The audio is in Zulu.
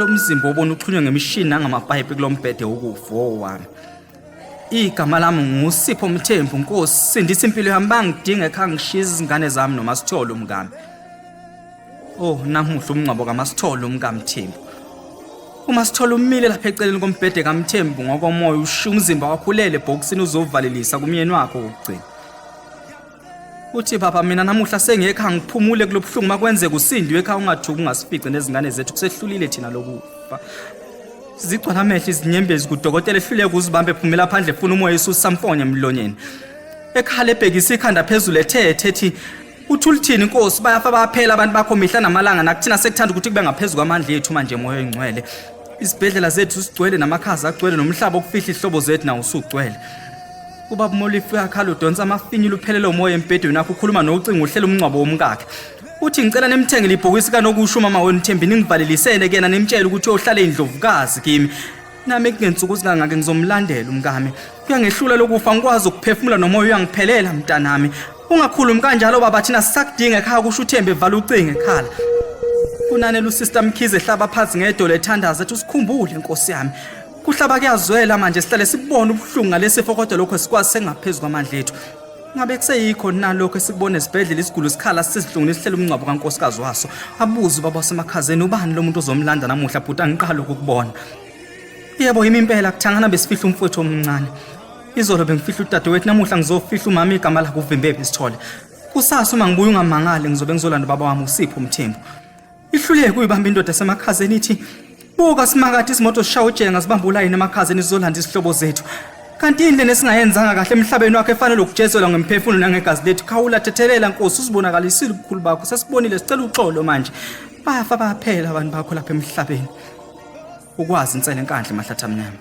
lo mzimba obona uxhunywe ngemishini nangamapayipi kulo mbhede wokufa owami igama lami ngusipho mthembu nkosi sindisa impilo yami bangidinga ekhaya ngishiye izingane zami nomasithole umkami Oh, namuhla umngcwabo kaMasithole umkaMthembu. UMasithole umile lapha eceleni kombhede kaMthembu ngokomoya ushiya umzimba wakhulele ebhokisini uzovalelisa kumyeni wakhe wokugcina. Uthi baba mina namuhla sengekho angiphumule kulobuhlungu makwenze kusindiwe ekhaya ungathuki ungasifice nezingane zethu kusehlulile thina lokufa. Zigcwala amehlo izinyembezi kudokotela ehluleka uzibambe phumela phandle funa umoya isusa mfonye emlonyeni. Ekhala ebhekisa ikhanda phezulu ethethe ethi Uthi ulithini inkosi bayafa baphela abantu bakho mihla namalanga nakuthina sekuthanda ukuthi kube ngaphezulu kwamandla ethu manje moya oyingcwele. Isibhedlela zethu sigcwele namakhaza agcwele nomhlaba okufihla ihlobo zethu nawo usugcwele. Ubaba Molifi uyakhala udonsa amafinyila uphelele umoya embhedweni wakhe ukhuluma nocingo uhlela umncwabo womkakhe. Uthi ngicela nimthengele ibhokisi kanokusho umama wenu Thembi ningivalelisele kuyena nimtshele ukuthi uyohlala indlovukazi kimi. nami kungensuku zikangake ngizomlandela umkami kuyangehlula lokufa ngikwazi ukuphefumula nomoya uyangiphelela mntanami ungakhulumi kanjalo baba thina sisakudinga ekhaya kusho uthembe evala ucingo ekhala kunanela usister mkhize ehlaba phansi ngedolo ethandaza ethi usikhumbule nkosi yami kuhlaba kuyazwela manje sihlale sibone ubuhlungu ngalesifo kodwa lokho sikwazi sengaphezu kwamandla ethu ngabe kuseyikho nalokho esikubona esibhedlela isigulu sikhala sizihlungile sihlela umngcwabo kankosikazi waso abuze ubaba wasemakhazeni ubani lo muntu ozomlanda namuhla bhuti angiqali ukukubona yebo yimi impela kuthangana besifihla umfowethu omncane izolo bengifihla udadewethu namuhla ngizofihla umama igama lakhe uvimbephi isithole kusasa uma ngibuya ungamangale ngizobe ngizolanda ubaba wami usipho umthembu ihluleke uyibamba indoda esemakhazeni ithi buka simakade izimoto zishaya ujenga zibamba ulayini emakhazeni zizolanda izihlobo zethu kanti yini lena esingayenzanga kahle emhlabeni wakhe efanele ukujezelwa ngemphefumulo nangegazi lethu khawula thethelela nkosi usibonakalisile ubukhulu bakho sesibonile sicela uxolo manje bafa baphela abantu bakho lapha emhlabeni ukwazi insele enkandle mahlathi amnyama